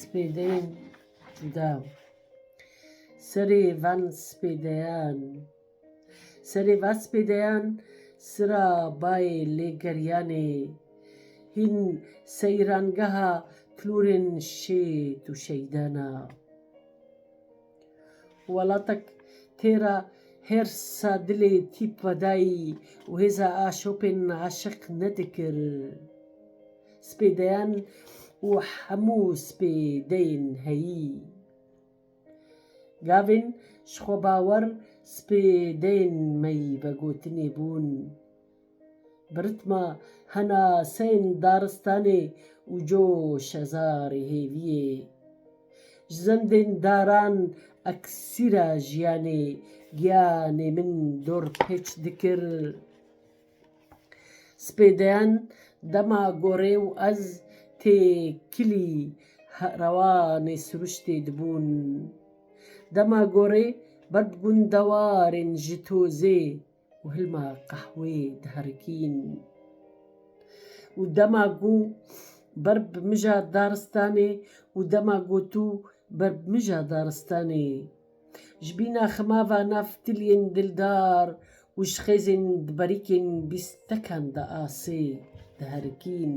Spêdeyên dew. Serê van spêdeyan. Serê van spêdeyan sira bayê lêgeriyanê hîn seyrangeha klûrên şêt û şeydan a. Welatek tê ra hêrsa dilê tîp vedayî û hêza aşopên aşiq nedikir. Spê deyan û hemû spê deyên heyî. Gavên ji xwebawer spê deyên me yî vegotinê bûn. Bi ritma hena seyên daristanê û co şezarê hêviyê. Ji zendên daran eksîra jiyanê giyanê min dor pêç dikir. Spê deyan dema gorê û ez tê kilî rewanê siruştê dibûn. Dema gorê ber bi gundewarên ji tozê. û hilma qehwê diherikîn û dema ku ber bi mija daristanê û dema ku tu ber bi mija daristanê ji bîna xema va nav tiliyên dildar û ji xêzên diberîkên bîstekan de asê diherikîn.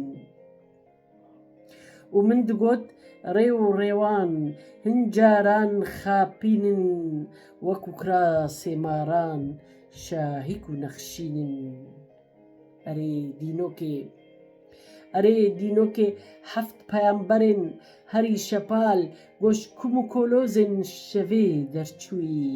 Û min digot, Rê û rêwan hin caran xapîn in, wek û kirasê maran şahîk û nexşîn in. Erê dînokê, erê dînokê heft peyamberên herî şepal goş kum û kolozên şevê derçûyî.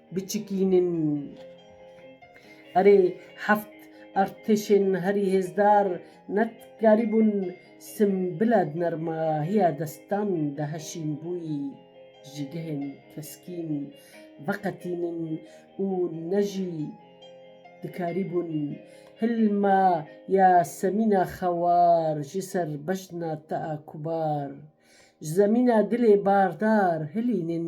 Biçikînin. Erê, heft artêşên herî hêzdar netkarîbûn Simbila di nermahiya destan de heşînbûyî ji gehên keskîn veqetînin û ne jî dikarîbûn hilma ya semîna xewar ji ser bejna te a kubar ji zemîna dilê bardar hilînin.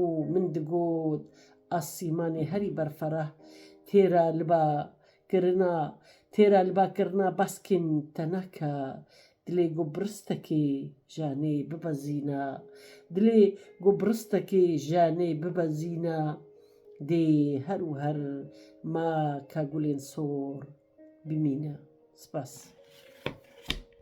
Û min digot, Asîmanê herî berferah têra li ba kirina, têra li ba kirina baskên te nake, dilê ku biristekê janê bibezîne, dilê ku biristekê janê bibezîne, dê her û her ma ka gulên sor bimîne. Spas.